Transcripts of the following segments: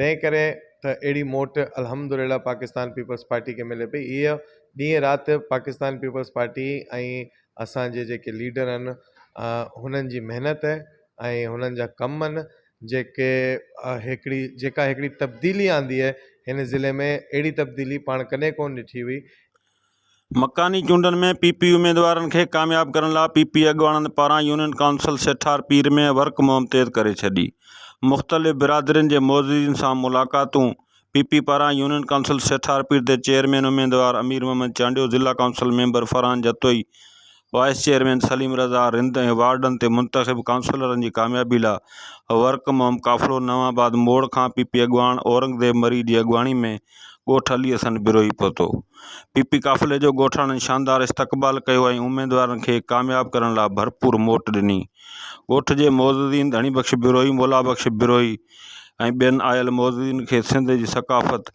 تنهن ڪري ته اهڙي موٽ الحمدلله پاڪستان پيپلز پارٽي کي ملي پئي. اهي ڏينهن رات پاڪستان پيپلز پارٽي ۽ اسان جي جيڪي ليڊر آهن هنن جي محنت ۽ هنن جا ڪم آهن جيڪي هڪڙي جيڪا هڪڙي تبديلي آندي آهي هن ضلعي ۾ اهڙي تبديلي پاڻ ڪڏهن ڪونه ڏٺي هئي. مڪاني چونڊن ۾ پي پي اميدوارن کي ڪامياب ڪرڻ لا پي پي اڳواڻن پاران union council Sethar Pir ۾ work مهم تيز ڪري ڇڏي مختلف برادرين جي معززين سان ملاقاتون پي پي پاران يونين ڪائونسل سيٺار پير تي چيئرمين اميدوار امير محمد چانڊيو ضلع council member Farhan Jatoi vice chairman Salim Raza Rind ۽ وارڊن تي منتخب ڪائونسلرن جي ڪاميابي لا ورڪ مهم قافلو نئون آباد موڙ کان پي پي اڳواڻ اورنگزيب مري جي اڳواڻي ۾ ڳوٺ علي حسن بروهي پهتو پي پي قافلي جو ڳوٺاڻن شاندار استقبال ڪيو ۽ اميدوارن کي ڪامياب ڪرڻ لا ڀرپور موٽ ڏني ڳوٺ جي معززين ڌڻي بخش بروهي مولا بخش بروهي ۽ ٻين آيل معززين کي سنڌ جي ثقافت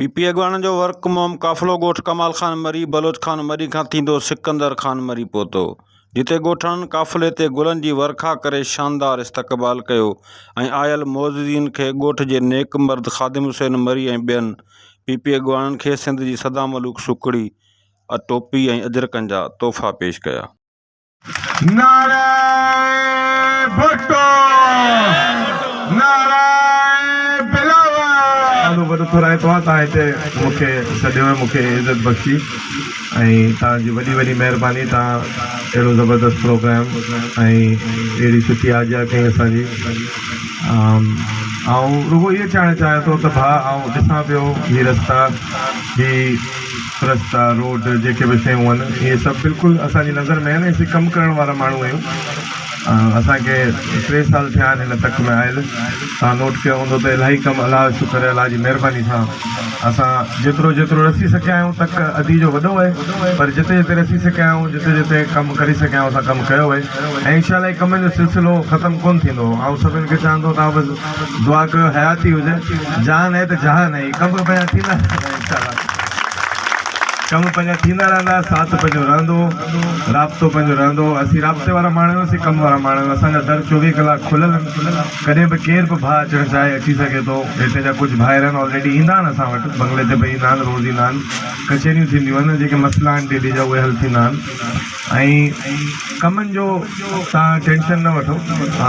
پي پي اڳواڻن جو ورق مهم قافلو ڳوٺ ڪمال خان مري، بلوچ خان مري کان ٿيندو سڪندر خان مري پهتو، جتي ڳوٺاڻن قافلي تي گلن جي ورکا ڪري شاندار استقبال ڪيو ۽ آيل معززين کي ڳوٺ جي نيڪ مرد خادم حسين مري ۽ ٻين پي پي اڳواڻن کي سنڌ جي سدا ملوڪ سوکڙي، ٽوپي ۽ اجرڪن جا تحفا پيش ڪيا. نعرہ ڀٽو نعرہ بلاول. وڏو ٿورائي توهان توهان هتي مون کي سڏيو ۽ مون کي عزت بخشي ۽ توهان جي وڏي وڏي مهرباني توهان اهڙو زبردست پروگرام ۽ اهڙي سٺي آجيا ڪئي اسان جي آئون رڳو اهو چاهڻ چاهيان ٿو ته ڀاء آئون ڏسان پيو هي رستا هي رستا، روڊ جيڪي به شيون آهن اهي سڀ بلڪل اسان جي نظر ۾ آهن ۽ اسين ڪم ڪرڻ وارا ماڻهو آهيون اسان کي ٽي سال ٿيا آهن هن تڪ ۾ آيل توهان نوٽ ڪيو هوندو ته الاهي ڪم الله جو شڪر الله جي مهرباني سان اسان جيترو جيترو رسي سگهيا آهيون تڪ ادي جو وڏو آهي پر جتي جتي رسي سگهيا آهيون جتي جتي ڪم ڪري سگهيا آهيون اسان ڪم ڪيو آهي ۽ انشاء الله هي ڪمن جو سلسلو ختم ڪونه ٿيندو آئون سڀن کي چاهندو ته آئون بس دعا ڪيو حياتي هجي جان هي ته جهان هي ڪم به پنهنجا ٿيندا رهندا انشاءالله ڪم پنهنجا ٿيندا رهندا ساٿ پنهنجو رهندو رابطو پنهنجو رهندو اسين رابطي وارا ماڻهو آهيون اسين ڪم وارا ماڻهو آهيون اسان جا در چوويهه ڪلاڪ کليل آهن ڪڏهن به ڪير به ڀاء اچڻ چاهي اچي سگهي ٿو هتي جا ڪجهه ڀائر آهن آلريڊي ايندا آهن اسان وٽ بنگلي تي به ايندا آهن روز ايندا آهن ڪچهريون ٿينديون آهن جيڪي مسئلا آهن ڊيلي جا اهي حل ٿيندا آهن ۽ ڪمن جو تان ٽينشن نه وٺو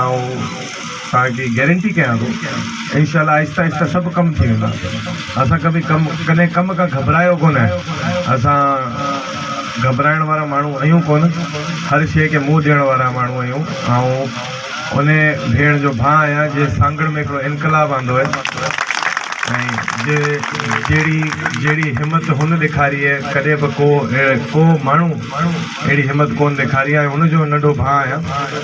۽ توهان کي گيرنٽي ڪيان ٿو انشاء الله آهستي آهستي سڀ ڪم ٿي ويندا اسان ڪبي ڪم ڪنهن ڪم کان گهٻرايو ڪونه اسان گهٻرائڻ وارا ماڻهو اهيون ڪونه هر شي کي منهن ڏيڻ وارا ماڻهو اهيون آئون انهي ڀيڻ جو ڀاء آهيان جنهن سانگهڙ ۾ هڪڙو انقلاب آندو آهي ۽ جي جهڙي جهڙي همت هن ڏيکاري آهي ڪڏهن به ڪو اهڙي ڪو ماڻهو اهڙي همت ڪونه ڏيکاري آهي آئون هن جو ننڍو ڀاء آهيان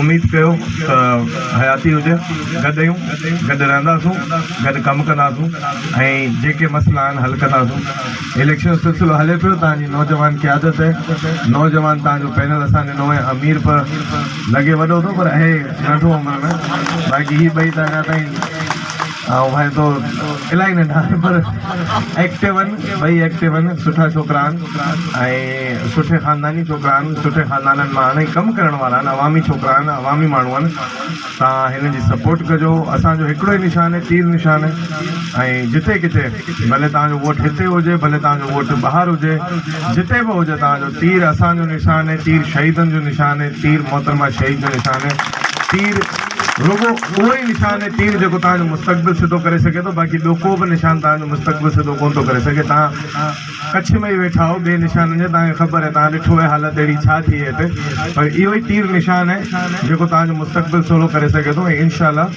اميد ڪيو ته حياتي هجي گڏ اهيون گڏ رهنداسون گڏ ڪم ڪنداسون ۽ جيڪي مسئلا آهن حل ڪنداسون اليڪشن جو سلسلو هلي پيو توهان جي نوجوان قيادت ۽ نوجوان توهان جو پينل اسان ڏنو ۽ امير پ لڳي وڏو ٿو پر اهي ننڍون عمر ۾ باقي هي ٻئي ته اڃا تائين آئون ڀائي تو الاهي ننڍا آهن پر ايڪٽو آهن ٻئي ايڪٽو آهن سٺا ڇوڪرا آهن ۽ سٺي خانداني ڇوڪرا آهن سٺي خاندانن مان آهن ۽ ڪم ڪرڻ وارا آهن عوامي ڇوڪرا آهن عوامي ماڻهو آهن تان هنن جي سپورٽ ڪجو اسانجو هڪڙو ئي نشان آهي تير نشان ۽ جتي ڪٿي ڀلي تان جو ووٽ هتي هجي ڀلي تان جو ووٽ ٻاهر هجي جتي به هجي تان جو تير اسانجو نشان آهي تير شهيدن جو نشان آهي تير محترمه شهيد جو نشان آهي تير رڳو اهو ئي نشان ۽ تير جيڪو توهان جو مستقبل سڌو ڪري سگهي ٿو، باقي ٻيو ڪو به نشان توهان جو مستقبل سڌو ڪونه ٿو ڪري سگهي. توهان ڪڇ ۾ ئي ويٺا آهيو ٻئي نشانن جي، توهان کي خبر آهي، توهان ڏٺو آهي حالت اهڙي ڇا ٿي آهي هتي، پر اهو ئي تير نشان آهي جيڪو توهان جو مستقبل سولو ڪري سگهي ٿو ۽ انشاء الله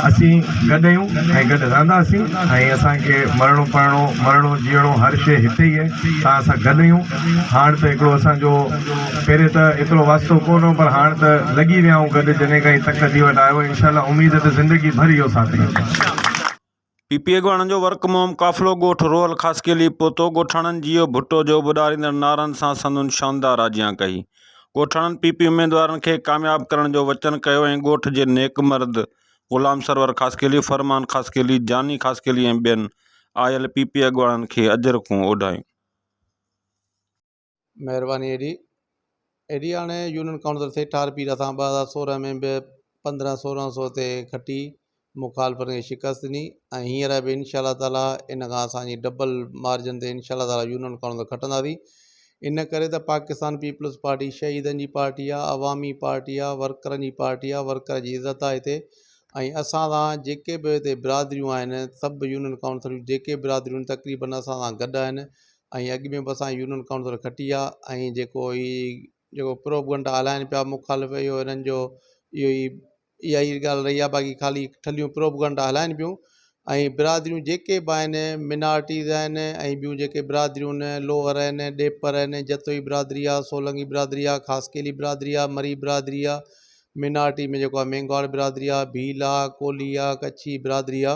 اسين گڏ آهيون ۽ گڏ رهنداسين ۽ اسان کي مرڻو پرڻو، مرڻو جيئڻو هر شيء هتي ئي آهي، توهان سان گڏ آهيون، هاڻ ته هڪڙو اسان جو. پهرين ته ايترو واسطو ڪو نه هو پر هاڻ ته لڳي ويا آهيون گڏ جڏهن کان هي تڪ جي وٽ آيو انشاء الله اميد آهي ته زندگي ڀر اهو ساٿي هوندو. پي پي اڳواڻن جو ورڪ مهم قافلو ڳوٺ روهل خاصخيلي پهتو، ڳوٺاڻن جيئو ڀٽو جو ٻڏاريندڙ نعرن سان سندن شاندار آجيان ڪئي، ڳوٺاڻن پي پي اميدوارن کي ڪامياب ڪرڻ جو وچن ڪيو ۽ ڳوٺ جي نيڪ مرد غلام سرور خاصخيلي، فرمان خاصخيلي، جاني خاصخيلي ۽ ٻين آيل پي پي اڳواڻن کي اجرڪون اوڍايون. مهرباني ايڏي ايڏي هاڻي يونين ڪائونسل سيٺار پير اسان ٻه هزار سورهن ۾ به پندرهن سورهن سو تي کٽي مخالفن کي شڪست ڏني ۽ هينئر به انشاء الله تعاليٰ ان کان اسانجي ڊبل مارجن تي انشاء الله تعاليٰ يونين ڪائونسل کٽنداسين ان ڪري ته پاڪستان پيپلز پارٽي شهيدن جي پارٽي آ عوامي پارٽي آ ورڪرن جي پارٽي آ ورڪر جي عزت آ هتي ۽ اسان سان جيڪي به هتي برادريون آهن سڀ يونين ڪائونسل جي جيڪي برادريون تقريبن اسان سان گڏ آهن ۽ اڳ ۾ به اسان يونين ڪائونسل کٽي آ ۽ جيڪو هي جيڪو پروپگنڊا هلائن پيا مخالف اهو هنن جو اهو ئي اها ئي ڳالهه رهي آ باقي خالي ٺلهيون پروپگنڊا هلائن پيون ۽ برادريون جيڪي به آهن منارٽيز آهن ۽ ٻيون جيڪي برادريون آهن لوهر آهن ڏيپر آهن جتوئي برادري آ سولنگي برادري آ خاصخيلي برادري آ مري برادري آ منارٽي ۾ جيڪو آ مينگهواڙ برادري آ ڀيل آ ڪولهي آ ڪڇي برادري آ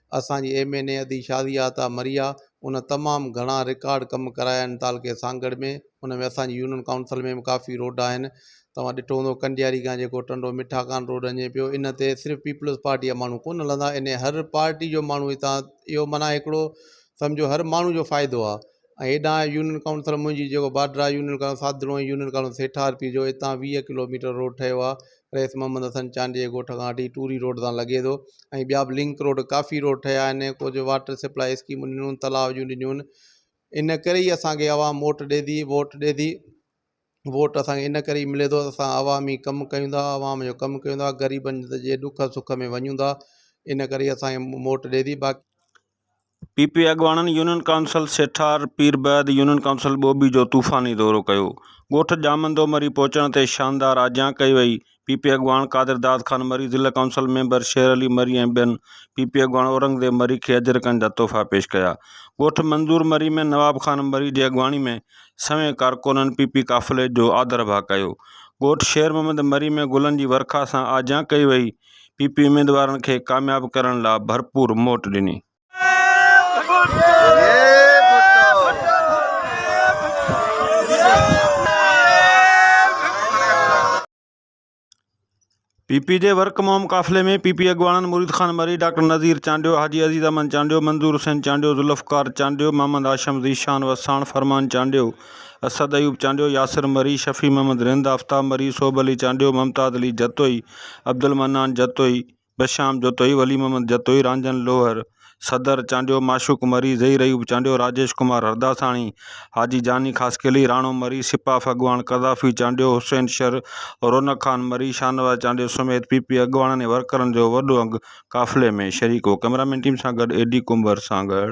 اسان جي ايم اين اي ادي شازيا عطا مريا ان تمام گهڻا رڪارڊ ڪم ڪرايا آهن تعلقي سانگهڙ ۾ ان ۾ اسان جي يونين ڪائونسل ۾ به ڪافي روڊ آهن توهان ڏٺو هوندو ڪنڊياري کان جيڪو ٽنڊو مٺا کان روڊ وڃي پيو ان تي صرف پيپلز پارٽي جا ماڻهو ڪونه هلندا ان هر پارٽي جو ماڻهو هتان اهو معنيٰ هڪڙو سمجهو هر ماڻهو جو فائدو آهي ۽ هيڏانهن آهي يونين ڪائونسل منهنجي جيڪو بارڊر آهي يونين ڪائونسل ساڌڙو ۽ يونين ڪائونسل سيٺ آرپي جو اتان ويهه ڪلو ميٽر روڊ ٺهيو آهي رئيس محمد حسن چانڊيي جي ڳوٺ کان وٺي ٽوري روڊ تان لڳي ٿو ۽ ٻيا به لنڪ روڊ ڪافي روڊ ٺهيا آهن ڪجهه واٽر سپلائي اسڪيمون ڏنون تلاء جون ڏنيون ان ڪري ئي اسانکي عوام موٽ ڏي ٿي ووٽ ڏي ٿي ووٽ اسانکي ان ڪري ئي ملي ٿو اسان عوامي ڪم ڪيون ٿا عوام جو ڪم ڪيون ٿا غريبن جي ڏک سک ۾ وڃون ٿا ان ڪري اسانکي موٽ ڏي ٿي باقي پي پي اڳواڻن يونين ڪائونسل سيٺار پير بعد يونين ڪائونسل ٻوٻي جو طوفاني دورو ڪيو، ڳوٺ ڄامندو مري پهچڻ تي شاندار آجيان ڪئي وئي، پي پي اڳواڻ قادر داد خان مري، ضلع ڪائونسل ميمبر شير علي مري ۽ ٻين پي پي اڳواڻ اورنگزيب مري کي اجرڪن جا تحفا پيش ڪيا، ڳوٺ منظور مري ۾ نواب خان مري جي اڳواڻي ۾ سوين ڪارڪونن پي پي قافلي جو آڌرڀاء ڪيو، ڳوٺ شير محمد مري ۾ گلن جي ورکا سان آجيان ڪئي وئي، پي پي اميدوارن کي ڪامياب ڪرڻ لا ڀرپور موٽ ڏني. پي پي جي ورڪ مهم قافلي ۾ پي پي اڳواڻن مريد خان مري، ڊاڪٽر نذير چانڊيو، حاجي عزيز احمد چانڊيو، منظور حسين چانڊيو، ذوالفقار چانڊيو، محمد هاشم ذيشان وساڻ، فرمان چانڊيو، اسد ايوب چانڊيو، ياسر مري، شفيع محمد رند، آفتاب مري، صوڀ علي چانڊيو، ممتاز علي جتوئي، عبدالمنان جتوئي، بشام جتوئي، ولي محمد جتوئي، رانجهن لوهر، صدر چانڊيو، معشوق مري، ظهير ايوب چانڊيو، راجيش ڪمار هرداساڻي، حاجي جاني خاصخيلي، راڻو مري، سپاف اڳواڻ قذافي چانڊيو، حسين شر، رونق خان مري، شاهنواز چانڊيو سميت پي پي اڳواڻن ۽ ورڪرن جو وڏو انگ قافلي ۾ شريڪ هو ڪئميرا مين ٽيم سان گڏ اي ڊي ڪنڀر سانگهڙ.